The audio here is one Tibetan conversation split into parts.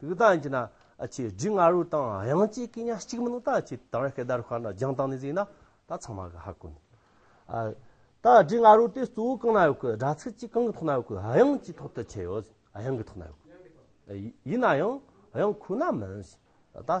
དུག་དང་བཅས་ན་ཆེ་རྒྱུས་ང་རོ་དང་དབྱངས་བཅས་སྐད་ཉག་གཅིག་མིན་དང་བཅས་དང་རེ་སྐད་བརྡ་རུ་ཤར་ན་རྒྱང་བཏང་ནས་གཟིགས་ན་ད་ཚང་མ་གི་ཧ་གོ་ནི། ད་རྒྱུས་ང་རོ་དེ་གཙོ་བོ་གང་ན་ཡོད་གི་སྒྲ་ཚིག་ཅིག་གང་གི་ཐོག་ན་ཡོད་གི་དབྱངས་ཀྱི་ཐོག་ཏུ་ཁྱད་ཡོད་དབྱངས་ཀྱི་ཐོག་ན་ཡོད། ཡིན་ན་ཡང་དབྱངས་ཁོ་ན་མིན། ད།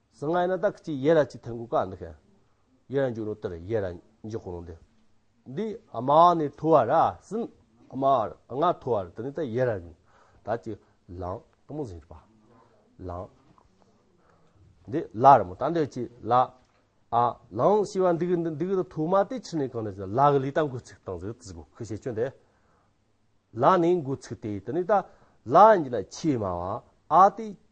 སང་ངའི་ན་ད་གཅིག་ཡེ་ར་གཅིག་ཐེན་གོ་ཀ་འདི་ཁན། ཡེ་ར་འཇུག་ནོ་དེར་ཡེ་ར་འཇུག་གོ་ནོ་འདི། འདི་ཨ་མ་ནི་ཐུ་བ་ར་སིན་ཨ་མ་ཨ་ང་ཐུ་བ་ར་དེ་ནི་ད་ཡེ་ར་ནི་ད་ཅི་ལང་ཏོ་མོ་ཟིན་རི་པ་ལང། འདི་ལ་ར་མོ་ད་འདི་ཅི་ལ་ཨ་ལང་ཤི་བ་འདི་གི་འདི་གི་ཐུ་མ་དེ་ཆི་ནི་གང་ནི་ལ་གི་ལི་ད་འགུ་ཚིག་དང་ཟིག་ཟིག་གོ་ཁི་ཤེ་ཅོན་དེ། ལ་ནི་འགུ་ཚིག་དེ་དེ་ནི་ད་ལ་འཇི་ན་ཆི་མ་བ་ཨ་དེ་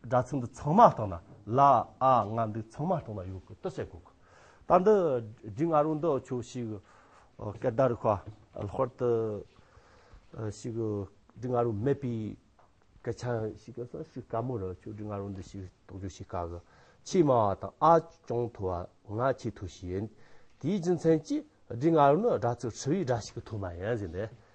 སྒྲ་ཚིག་འདི་ཚང་མ་བཏང་ན་ལ་ཨ་ང་འདི་ཚང་མ་བཏང་ན་ཡོད་གི་ཏི་ཤས་དགོས་གི། ད་འདི་སྒྲིག་ང་རོ་འདི་ཁྱོད་ཞིག་སྐད་བརྡ་རུ་ཁ་ལྷོར་དུ་ཞིག་སྒྲིག་ང་རོ་མེད་པའི་སྐད་ཆ་ཞིག་གི་སང་ཞིག་དཀའ་མོ་རུ་ཁྱོད་སྒྲིག་ང་རོ་འདི་ཞིག་དོགས་འདྲི་ཞིག་དཀའ་གི། ཆེས་དམའ་བ་དང་ཨ་ཅུང་མཐོ་བ་ང་ཆེས་མཐོ་ཞིག་ཡིན། དེའི་རྒྱུ་མཚན་གྱིས་སྒྲིག་ང་རོ་ནི་སྒྲ་ཚིག་ཧྲིལ་བོའི་སྒྲ་ཞིག་གི་ཐོག་མ་ཡིན་ཟེར་འདི།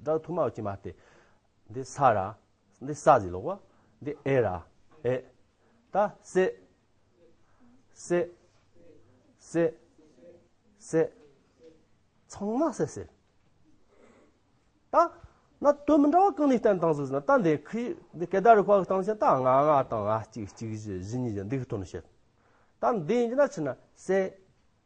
སྒྲ་དུ་མ་ཀྱེ་མ་སྟེ། འདི་ས་ར། འདི་ས་ཟི་ལོག་བ། འདི་ཨེ་ར། ཨེ། ད་སེ། སེ། སེ། སེ། ཚང་མ་སེ་སེ། ད་ན་དོན་མི་འདྲ་བ་གང་ནས་བསྟན་དང་ཟུར་ཟེར་ན་ད་འདི་ཁི་འདི་སྐད་བརྡ་རུ་བཀག་སྟངས་ཆེན་ད་ང་ང་དང་ང་གཅིག་གཅིག་བཞི་བཞི་གཉིས་བཞི་འདི་གི་དོན་བཤད། ད་འདི་ཡིན་གྱི་ན་ཆི་ན་སེ།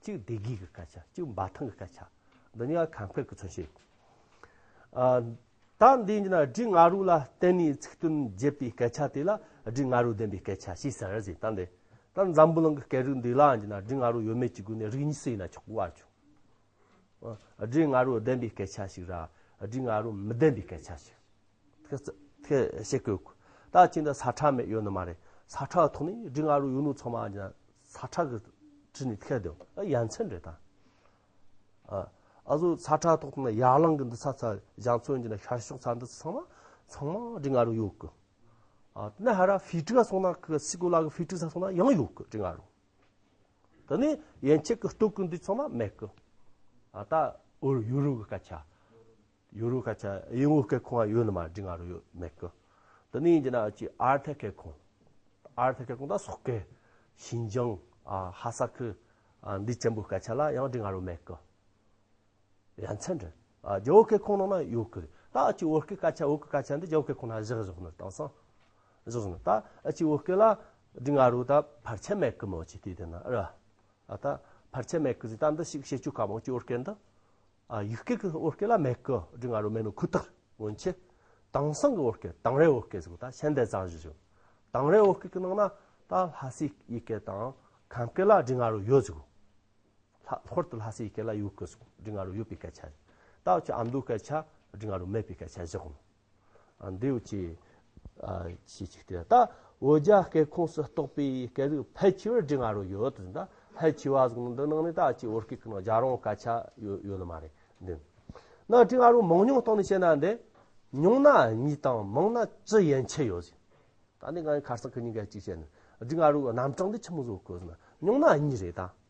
གཅིག་བདེ་སྐྱིད་ཀྱི་སྐད་ཆ་གཅིག་འབའ་ཐང་གི་སྐད་ཆ་འདི་གཉིས་ཀ་གང་ཕེབས་ཀྱི་མཚོན་བྱེད། ད་འདི་ཉིད་ན་སྒྲི་ང་རུ་ལ་བརྟེན་ནས་ཚིག་དོན་བརྗེད་པའི་སྐད་ཆ་དེ་ལ་སྒྲི་ང་རུ་ལྡན་པའི་སྐད་ཆ་ཞེས་ཟེར་ཟིན་ད་འདི་ད་འཛམ་བུ་གླིང་གི་སྐད་རིགས་འདི་ལ་འདི་ན་སྒྲི་ང་རུ་ཡོད་མེད་ཀྱི་སྒོ་ནས་རིགས་གཉིས་སུ་ཡིན་ན་ཆོག་གི་བར་བྱུང། སྒྲི་ང་རུ་ལྡན་པའི་སྐད་ཆ་ཞིག་ར་སྒྲི་ང་རུ་མི་ལྡན་པའི་སྐད་ཆ་ཞིག་ཐེ་བྱེད་དགོས། ད་ཅིང་ད་ས་ཁྲ་མེད་ཡོད་ནི་མ་རེད་ས་ཁྲ་ཐོག་ནས་སྒྲི་ང་རུ་ཡོད་ནུ་ཚང་མ་འདི་ན་ཚ་ཁྲག་གི་དྲི་ནི་ཁད་དོ། ཡ་མཚན་རེ་དང། ཨ་ཟུག་ཚ་ཁྲག་ཐོག་ཏུ་ན་ཡར་ལངས་གི་འདི་ཚ་ཚ་བཞག་ཚོན་གྱི་ན་ཤར་ཕྱོགས་ཚ་འདི་ཚང་མ་ཚང་མ་དྲི་ང་རུ་ཡོད་གི། ཨ་ན་ཧ་ར་ཕི་ཏྲི་ཨ་སོང་ན་ཁི་སི་ཀུ་ལ་གི་ཕི་ཏྲི་ཚ་སོང་ན་ཡང་ཡོད་གི་དྲི་ང་རུ། ད་ནི་ཡན་ཆད་གི་སྟོད་གི་འདི་ཚང་མ་མེད་གི། ཨ་ད་ཨོ་ཡུ་རུ་གི་སྐད་ཆ། ཡུ་རུ་ཁ་ཆ་ཡིན་ངུ་ཁེ་ཁོང་ཨ་ཡུ་ནི་མ་འདྲི་ང་རུ་ཡོད་མེད་ཀི། དི་ནི་ཡིན་གྱི་ན་ཅི་ཨར་ཐེ་ཁེ་ཁོང། ཨར་ཐེ་ཁེ་ཁོང་ད་སོག་ཀེ། ཤིན་ཇང། ཧ་ས་ཁི། འདི་ཅན་པོའི་སྐད་ཆ་ལ་ཡང་འདྲི་ང་རུ་མེད་ཀི། ཡ་མཚན་འདྲི། རྒྱ་བོ་ཁེ་ཁོང་ནང་ན་ཡོད་ཀི་རེད། ད་ཨ་ཅི་བོ་ཀེ་སྐད་ཆ་བོ་ཀེ་སྐད་ཆ་འདི་རྒྱ་བོ་ཁེ་ཁོང་ན་བཞག་བཞག་ནི་དང་སང། བཞག་བཞག་ནི་ད་ཨ་ཅི་བོ་ཀེ་ལ་འདྲི་ང་རུ་ད་ཕར་ཆད་མེད་ཀི་མོ་ཅི་དེ་དེ་ན་རེད། ད་ཕར་ཆད་མེད་ཀི་ཟིག་ད་འདི་ཞིག་བཤད་བཅུག་ག་མོ་ཅི་བོ་ཀེ་འདི། ཡུལ་སྐད་ཀྱི་བོད་སྐད་ལ་མེད་ཀི་འབྲི་ང་རོ་མེད་ནོ་ཁུ་ཐག་སྔོན་ཆད་དྭངས་སང་གི་བོད་སྐད་དྭངས་རའི་བོད་སྐད་ཟེར་བ་ད་ཤན་ཏའི་ཙང་ཞིག་བྱུང་དྭངས་རའི་བོད་སྐད་ཀྱི་ནང་ན་ད་ལྷ་སའི་ཡི་གེ་དང་གངས་སྐད་ལ་འབྲི་ང་རོ་ཡོད་ཟེར་གོ། ལྷོར་དུ་ལྷ་སའི་ཡི་གེ་ལ་ཡོད་ཀི་ཟེར་གོ་འབྲི་ང་རོ་ཡོད་པའི་སྐད་ཆ་རེད། ད་འོ་ཅོག་ཨ་མདོའི་སྐད་ཆ་འབྲི་ང་རོ་མེད་པའི་སྐད་ཆ་ཞིག་གོ། འདུས་བྱས་ཞེས་བྱ་སྟེ། ད་འོ་བརྒྱ་སྐད་ཁོངས་སུ་གཏོགས་པའི་སྐད་དོད་ཕལ་ཆེ་བར་འབྲི་ང་རོ་ཡོད་དོ་ཟེར་ན། ཕལ་ཆེ་བ་གཟུགས་འདི་ནང་ནས་ད་ཅི་འོ་སྐད་ཀྱི་ནང་བརྒྱ་རང་སྐད་ཆ་ཡོད་ནི་མ་རེད་འདི། ན་འབྲི་ང་རོ་མང་ཉུང་སྟངས་ནས་བཤད་ན་འདི། ཉུང་ན་གཉིས་དང་མང་ན་བཅུ་ཡན་ཆད་ཡོད་ཟེར། ད་ནི་ང་ཡི་ཁར་སང་གི་ཉིན་འགའི་ཅིག་བཤད་ནི། འབྲི་ང་རོའི་རྣམ་གྲངས་འདི་ཆི་མོ་བཟོ་དགོས་ཟེར་ན། ཉུང་ན་གཉིས་རེད་ད།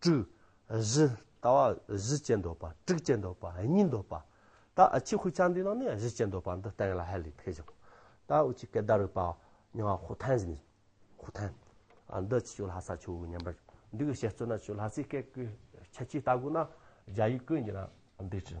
དྲུག། བཞི། ལྟ་བ་བཞི་ཅན་འདོད་པ་དྲུག་ཅན་འདོད་པ་གཉིས་འདོད་པ། ད་ཕྱི་ཁུ་ཆ་འདི་རྣམས་ནི་བཞི་ཅན་འདོད་པ་འདི་ལྟ་ཡིན་ལ་ཧ་ལས་ཕེ་བཞི། ད་འུ་ཅིག་སྐད་བརྡ་རིག་པ་མྱོང་བ་ཧུ་ཐན་བཞི། ཧུ་ཐན། འདི་ཆུ་ལྷ་ས་ཆུ་བོའི་ཉེ་འབར་འདི་གི་བཤད་རྩོད་ན་ཆུ་ལྷ་སའི་སྐད་ཀྱི་ཁྱད་ཆོས་ལྟ་དགོས་ན་རྒྱ་ཡིག་ཀུན་གྱི་ན་འདི་ཅི།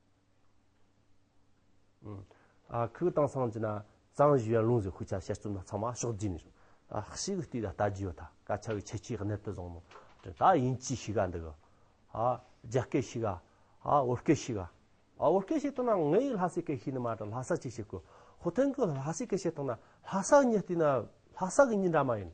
ཁུག་དང་སང་ཅི་ན་གཙང་བཞི་བའི་ལུང་ཟེར་ཤུགས་ཆ་བཤད་རྩོམ་ན་ཚང་མ་ཕྱོགས་བསྡུས་ནས་ཤོག་ཤིག་གི་སྟེང་ལ་ལྟ་རྒྱུ་ཡོད་ད་སྐད་ཆ་གི་ཁྱད་ཆོས་གནད་དུ་བཟང་ནོ་ད་ཡིན་ཅི་ཞིག་ག་འདུག་གི་རྒྱ་སྐད་ཞིག་ག་བོད་སྐད་ཞིག་ག་བོད་སྐད་བཤད་སྟངས་ན་ངའི་ཡིག་ལྷ་སའི་སྐད་ཤིག་ནི་མ་དང་ལྷ་ས་ཅིག་བཤད་དགོས་ཧོ་ཐེང་གི་ལྷ་སའི་སྐད་བཤད་སྟངས་ན་ལྷ་ས་ཉིད་ལྟོས་ན་ལྷ་ས་གི་ཉིད་འདྲ་མ་ཡིན།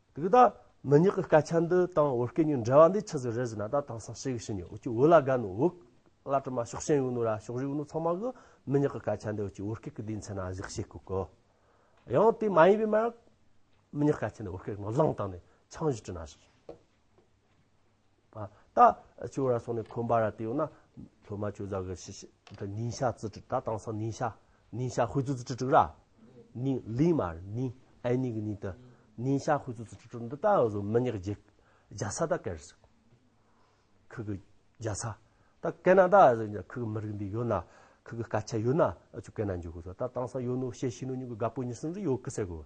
དེ་གི་ད་མི་ཉག་གི་སྐད་ཆ་འདི་དང་བོད་སྐད་གཉིས་འབྲེལ་བ་འདི་ཆི་ཟིག་རེད་ཟེར་ན་ད་དང་སང་ཤེས་གི་ཤི་ཉོ་འུ་ཅི་འུ་ལ་དགའ་ནུ་འུག་ལ་དྲི་མ་ཤོག་ཤེས་ཡོང་ནུ་ར་ཤོག་རི་ཡོང་ནུ་ཚང་མ་གི་མི་ཉག་གི་སྐད་ཆ་འདི་འུ་ཅི་བོད་སྐད་གི་དེའི་མཚན་ན་གཞིག་ཤེས་གི་གི། ཡང་དེ་མ་ཡིན་པའི་མ་མི་ཉག་སྐད་ཆ་འདི་བོད་སྐད་ནང་བླངས་བཏང་ནས་ཆང་བཞིན་དྲི་ན་ཟིག། ད་ཆུ་ར་སོགས་ནས་འཁོན་པ་ར་དེ་ཡོད་ན། ལྷོ་མ་ཆུ་བཟའ་གི་ཤི་ཤི་ད་ནིང་ཤ་ཙི་ཏྲི་ད་དང་སང་ནིང་ཤ་ནིང་ཤ་ཧུད་ཙུ་ཙི་ཏྲི་ཏྲི་ར། ནིང་ལིང་མ་རེད་ནིང་ཨན་ནིང་གི་ནིང་ད་ནིང་ཤ་ཧུད་ཙུ་ཙི་ཏྲི་ཏྲི་འདི་ད་ཡོད་ཟོ་མི་ཉག་རྗེ་རྒྱ་ཚ་ད་ཀེར་སི་ཁུ་གི་རྒྱ་ཚ་ད་ཀེ་ན་ད་ཁུ་གི་མི་རིགས་འདི་ཡོད་ན་ཁུ་གི་སྐད་ཆ་ཡོད་ན་ཨ་ཆུ་ཀེ་ན་འཇུག་གི་ཟོ་ད་དང་སང་ཡོད་ནོ་ཤེ་ཤི་ནོ་ཉུག་གི་དགའ་པོ་ཉི་སིང་རི་ཡོད་ཀི་སེ་གོ།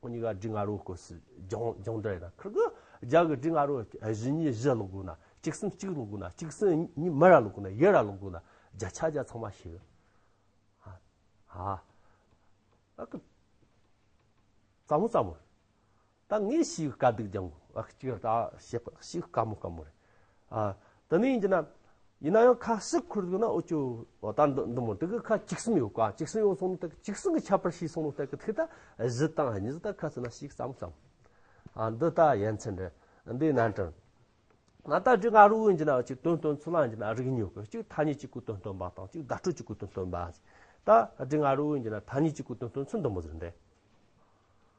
ཁོ་གཉིས་ཀ་སྒྲི་ང་རོ་སྐོར་སུ་སྦྱོང་སྦྱོང་འདྲ་ཡིན་ན་ཁག་གི་རྒྱག་གི་སྒྲི་ང་རོ་བཞི་གཉིས་བཞི་སློང་དགོས་ན་གཅིག་སུན་གཅིག་སློང་དགོས་ན་གཅིག་སུན་གཉིས་མི་ར་སློང་དགོས་ན་ཡི་ར་སློང་དགོས་ན་བརྒྱ་ཆ་བརྒྱ་ཚང་མ་ཤེས་ཨ་ཨ་ཨ་ཀི་བཙའ་མོ་བཙའ་མོ་རེད་ད་ངས་ཤིའི་དཀའ་སྡུག་སྦྱང་དགོས་ཨ་ཀི་ཅིག་ར་ད་ཤེས་པ་ཤིའི་དཀའ་མོ་དཀའ་མོ་རེད་ཨ། དེ་ནི་ཡིན་གྱི་ན། ཡིན་ན་ཡང་ཁ་ཟིག་ཁུར་འདུག་ན་ཨོ་ཅོ། ཨོ་ད་འདི་འདི་མོ་དེ་གི་ཁ་གཅིག་གསུམ་ཡོད་ཀ་གཅིག་གསུམ་ཡོང་སོང་ནི་ད་གི་གཅིག་གསུམ་གི་ཁྱད་པར་ཤེས་སོང་ནི་ད་གི་ཐིག་ད་གཞི་དང་གཉིས་གཟུགས་ད་ཁ་ཚིག་ན་ཞིག་བརྩམ་བརྩམ། ཨ་འདི་ད་ཡན་ཚན་འདི་འདི་ནན་ཏན། ང་ད་དྲི་ང་རོ་ཡིན་གྱི་ན་གཅིག་དོན་དོན་ཚུལ་ལ་ཡིན་གྱི་ན་རིག་ཉོ་གི་གཅིག་ཐ་སྙད་གཅིག་གུ་དོན་སྟོན་པ་དང་གཅིག་བརྡ་སྤྲོད་གཅིག་གུ་དོན་སྟོན་པ། ད་དྲི་ང་རོ་ཡིན་གྱི་ན་ཐ་སྙད་གཅིག་གུ་དོན་སྟོན་ཚུལ་འདི་མོ་ཟེར་འདི།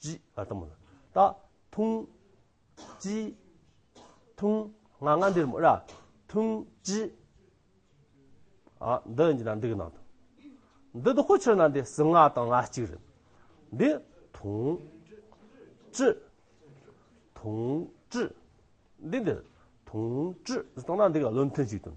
ཅི། ཨར་ཐང་མོ་ལ། ད། ཐུང། ཅི། ཐུང། ང་ང་འདིར་མོ་ར། ཐུང། ཅི། ཨ། འདི་འདི་ན་འདི་གི་ནང་དུ། འདི་འདི་ཧོ་ཕྱིར་ན་འདི་སུ་ང་དང་ང་གཅིག་རེད། འདི། ཐུང། ཅི། ཐུང། ཅི། འདི་འདི། ཐུང། ཅི། ཟི་དང་ན་འདི་ག་བློ་མཐུན་གཅིག་དང།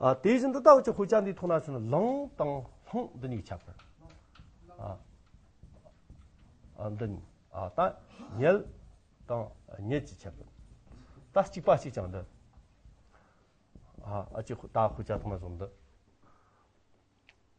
དེ་བཞིན་དུ་ལྟག་ཆུ་ཧུ་ཅག་འདི་ཐོག་ན་ཆུ་ན་ལང་དང་ལྷང་འདི་གཉིས་ཁྱབ་པར། འདི་གཉིས་ད་ཉལ་དང་ཉལ་གྱིས་ཁྱབ་པར། ད་གཅིག་པ་གཅིག་ཀྱང་འདི། ཨ་ཅེ་ད་ཧུ་ཅག་ཐོག་ན་ཆུ་འདི།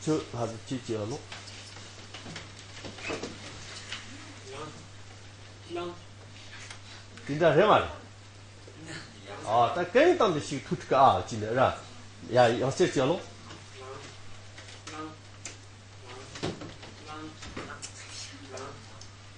ཚོས་ལྷ་རྫས་ཅི་བྱས་བླུག། དེ་འདྲ་རེད་མ་རེད། ཨ་ད་གན་གཏམ་དེ་ཞིག་ཐུག་ཁྲིག་ཨ་ཅི་འདྲ། ཡ་ཡང་བསྐྱེད་བྱས་བླུག།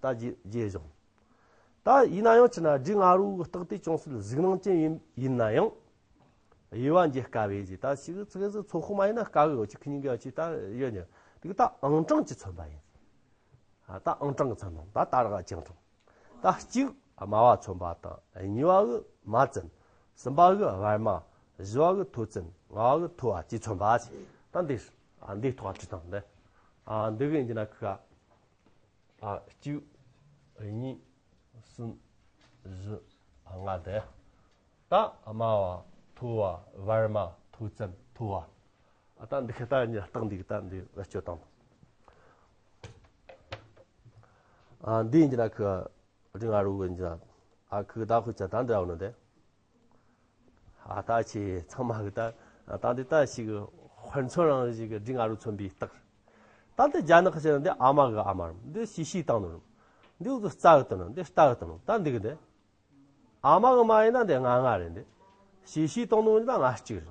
ད་རྗེས་བཞག་ད་ཡིན་ན་ཡང་ཆི་ན་རྗེ་ང་རོའི་རྟགས་དེ་ཅུང་ཟད་གཟིགས་སྣང་ཅན་ཡིན་ན་ཡང་དབྱེ་བ་འབྱེད་དཀའ་བས་ད་ཕྱིས་ཀྱི་ཚིག་གཟིགས་ཚོགས་ཁོ་མ་ཡིན་ན་དཀའ་བས་འོ་ཆི་ཁི་ཉིན་གྱི་ཡང་ཆི་ད་ཡོད་ནི་དེ་ད་ཨང་གྲངས་ཀྱི་མཚོན་པ་ཡིན་ད་ཨང་གྲངས་ཀྱི་མཚོན་ནོ་ད་ད་རག་ཅིང་གྲངས་ད་གཅིག་དམའ་བ་མཚོན་པ་དང་གཉིས་བ་གི་མ་བཙན་གསུམ་པ་གི་བར་མ་བཞི་བ་གི་མཐོ་བཙན་ལྔ་བ་གི་མཐོ་བ་ཅེས་མཚོན་པ་ཞེས་ད་འདིར་འདིའི་ཐོག་ཁྲིད་དང་འདི་འདི་གིས་འདི་ན་ཁུ་ག། གཅིག། གཉིས། གསུམ། བཞི། ལྔ། བརྒྱ། རྟགས་དམའ་བ། མཐོ་བ། བར་དམའ། མཐོ་ཙམ། མཐོ་བ། ད་འདི་ཁ་ད་རྟགས་འདི་ད་འདི་བེད་སྤྱོད་དང། འདི་ཡིན་གྱི་ན་ཁུ་རིང་ཨ་རུ་གི་ཡིན་གྱི་ན་ཨ་ཁུ་ད་ཁུ་ཅི་ད་འདི་ཨ་བ་ནོ་དེ། ལྟ་བྱས་ཚང་མ་གི་ལྟ། ལྟ་འདི་ལྟ་ཞིག་གི་ཧོལ་མཚོན་རང་བཞིན་གི་སྒྲིག་ང་རུ་མཚོན་པའི་རྟགས། ལྟ་འདི་རྒྱ་ནག་གི་ཆེད་འདི་ཨ་མ་གི་ཨ་མ་རམ་འདི་ཤི་ཤིའི་སྟག་ནོར་རམ། འདི་འུ་ཚོ་རྩ་གི་རྟ་ནོར་འདི་རྟ་གི་རྟ་ནོར་ལྟ་འདི་གི་འདི། ཨ་མ་གི་མ་ཡིན་ན་འདི་ང་ང་རེད་འདི། ཤི་ཤིའི་སྟག་ནོར་ཡིན་ན་ང་གཅིག་རེད།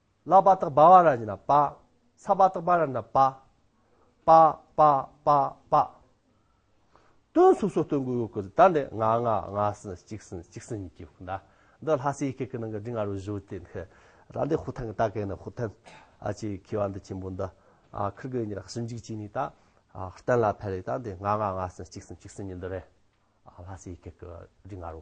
ལ་བ་དག་བ་བ་ར་ཉི་ན་པ། ས་བ་དག་བ་ར་ན་པ། པ། པ། པ། པ། སྟོན་སུག་སོགས་སྟོན་གོས་གོས་གོས་ད་འདི་ང་ང་ང་སི་གཅིག་སི་གཅིག་སི་གཉིས་ཀྱིས་ཟླ་འདི་ལྷ་སའི་ཡི་གེ་གི་ནང་གི་འབྲི་ང་རོ་བཞུ་དེ་ནི་ར་འདི་ཧུ་ཐང་གི་ད་གེ་ནི་ཧུ་ཐན་ཨ་ཅེ་ཁི་བ་འདི་ཆེན་པོ་འདི་ཨ་ཁིར་གི་ཉི་ར་སུ་འཇིག་ཅིག་ནི་ད་ཧུར་ཏན་ལ་ཕེ་རི་ད་འདི་ང་ང་ང་སི་གཅིག་སི་གཅིག་སི་གཉིས་འདི་རེ་ལྷ་སའི་ཡི་གེ་གི་འབྲི་ང་རོ།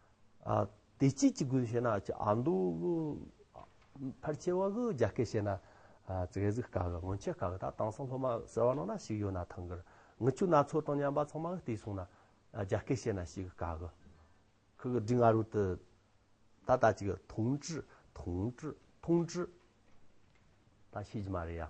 ཨ། དེ་ཅི་ཅི་དགོས་ཤེ་ན་ཅི་ཨ་འདུག་གི། ཨ། ཕར་ཆེ་བ་གི་རྒྱ་སྐད་ཤེ་ན། ཨ། ཙི་གེ་ཟིག་ག་གི་སྔོན་ཆད་ག་གི་ད་དང་སང་སློབ་མ་ཟེར་བ་ནང་ན་ཞིག་ཡོད་ན་ཐང་གིར། ངི་ཆུ་སྣ་ཚོགས་དང་མཉམ་པ་ཚང་མ་གི་དེ་གསུང་ན། ཨ་རྒྱ་སྐད་ཤེ་ན་ཞིག་གི་ག་གི། ཁི་གི་འབྲི་ང་རུ་ཏི། ད་ད་ཅིག་ཐུང་ཀྲི་ཐུང་ཀྲི་ཐུང་ཀྲི། ད་ཤེས་ཀྱི་མ་རེད་ཡ།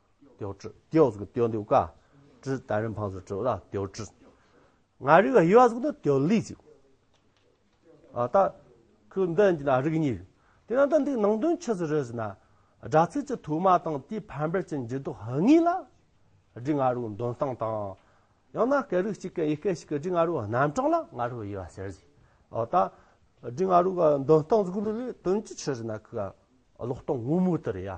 ཏེའོ་ཀྲི། ཏེའོ་གཟུགས་ཀྱི་ཏེའོ་འདི་ཀ་ཀྲི་དང་རིན་འཕངས་སུ་ཀྲི་ལ་ཏེའོ་ཀྲི། ང་རིག་ཡི་བ་གཟུགས་ནི་ཏེའོ་ལི་ཅིག། ཨ་ཏ། ཁུ་འདི་ནི་ན་རིག་གཉིས། དེ་ནང་དུ་འདིའི་ནང་དོན་ཆུད་ཟོས་རེད་ཟེར་ན། སྒྲ་ཚིག་གི་དུ་མ་དང་དེའི་ཕན་པར་གྱི་འགྱུར་ལྡོག་གཉིས་ལ། སྒྲའི་ང་རོའི་འདོན་སྟངས་དང། ཡང་ན་སྐད་རིགས་གཅིག་གི་ཡི་གེ་ཞིག་གི་སྒྲའི་ང་རོའི་རྣམ་གྲངས་ལ་ང་རོའི་དབྱེ་བ་ཟེར་ཞིང། ཨོ་ཏ། སྒྲའི་ང་རོའི་འདོན་སྟངས་གཟུགས་རིག་ལས་དོན་གྱིས་ཆུད་ཟོས་ན་ཁུ་ཀ་ཀློག་སྟངས་དངོས་མོ་དེ་རེད་ཡ།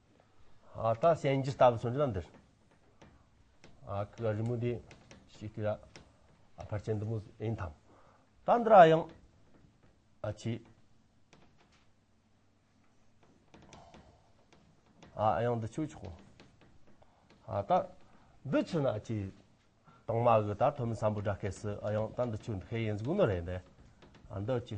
ད་བཤད་རྒྱུ་ལྟ་བུ་སོང་རྒྱུ་ན་འདིར་ཨ་ཁུ་རི་མོ་འདི་ཞིག་དེ་ལ་ཨ་ཕར་ཅན་འདི་མོ་ཡིན་དང་ད་འདིར་ཨ་ཡང་ཨ་ཆི་ཨ་ཡང་འདི་ཆུ་ཆོག་ཨ་ད་འདི་ཆུ་ན་ཨ་ཆི་དང་མ་གི་ད་ཐོ་མི་སམ་པོ་འདྲ་སྐད་སི་ཨ་ཡང་ད་འདི་ཆུ་འདི་ཁེ་ཡིན་གཟུགས་ནོ་རེད་འདི་ཨ་འདི་ཆི་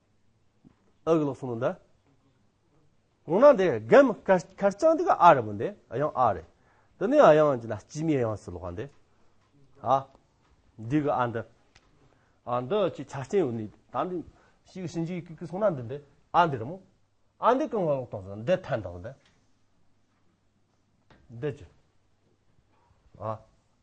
ཨ་གི་ལོག་སུ་མུན་ད། གོང་ན་དེ་རྒན་མི་ཁར་ཁར་ཅང་དེ་ག་ཨ་རེད་མུན་དེ་ཨ་ཡང་ཨ་རེད། དེ་ནས་ཨ་ཡང་ཅི་ན་སྐྱི་མི་ཡང་སུ་ལོག་ཧ་འདི། ཨ། འདི་གི་ཨ་འདི། ཨ་འདི་ཅི་ཆ་རྐྱེན་ཡོད་ནི་ད་འདི། ཤི་གི་ཤིན་ཅི་གི་གི་སོང་ན་འདི་འདི་ཨ་འདི་རེད་མོ། ཨ་འདི་གང་ང་ལོག་དང་ཟེར་འདི་ཐན་དང་ཟེར། འདི་ཅི། ཨ།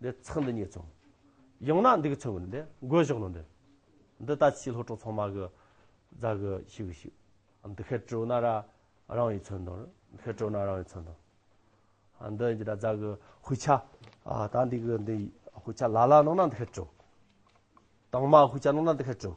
འདི་ཚང་འདི་ཉིད་ཚང། ཡང་ན་འདི་གི་ཚང་གི་འདི་འགོད་བཞག་ནོ་འདི། འདི་ད་ཕྱིས་ལྷོ་ཕྲོག་ཚང་མ་གི་རྫ་གི་ཤི་གི་ཤི། འདི་ཁད་སྤྲོ་ན་ར་རང་ཡི་ཚོན་དང། འདི་ཁད་སྤྲོ་ན་རང་ཡི་ཚོན་དང། འདི་འདི་ད་རྫ་གི་ཧུ་ཆ། ད་འདི་གི་འདི་ཧུ་ཆ་ལ་ལ་གནང་ན་འདི་ཁད་སྤྲོ། དྭངས་མ་ཧུ་ཆ་གནང་ན་འདི་ཁད་སྤྲོ།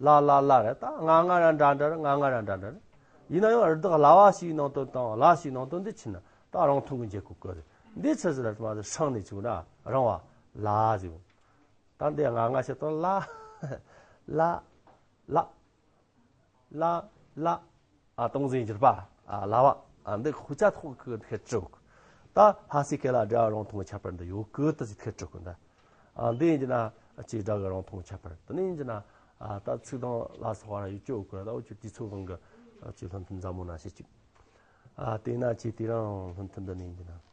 ལ་ལ་ལ་རེད་ད་ང་ང་ར་འདྲ་འདྲ་རེད་ང་ང་ར་འདྲ་འདྲ་རེད། ཡིན་ན་ཡང་རི་དྭགས་ལྭ་བ་ཞིག་ནང་དོན་དང་ལྭ་ཞིག་ནང་དོན་འདི་ཕྱིན་ན་ད་རང་ཐུགས་ཀྱི་འཇིགས་སྐུལ་བཀོད་རེད་འདི་ཚོས་ཟེར་ན་མ་ཟེར་ཤང་ནས་བྱུང་ན་རང་བ་ལ་ཟེར་བོ། ད་འདི་ང་ང་ཞིག་དང་ལ། ལ། ལ། ལ། ལ། སྟོང་འཛིན་བརྒྱུད་པ་ལ་བ་འདི་ཁུ་ཅག་ཐོག་གི་ཐེག་དྲུག་ད་ལྷ་སྲས་ཀེ་ལ་སྒྲ་རང་མཐོང་ཁྱད་པར་འདི་ཡོད་གི་ད་ཅི་ཐེག་དྲུག་གི་འདི་འདི་ཡིན་གྱི་ན་ཅི་སྒྲ་གི་རང་མཐོང་ཁྱད་པར་འདི་ནི་ཡིན་གྱི་ན་ད་ཚིག་དང་ལ་སོགས་བར་ཡོད་ཀྱི་གོ་ད་འོ་ཅོ་དུས་ཚོད་གང་གི་ཅི་ལྷུན་ཐུན་ཟབ་མོ་ན་ཤེས་ཅིག་དེས་ན་ཅི་དེ་རང་ལྷུན་ཐུན་འདི་ནི་ཡིན་གྱི་ན།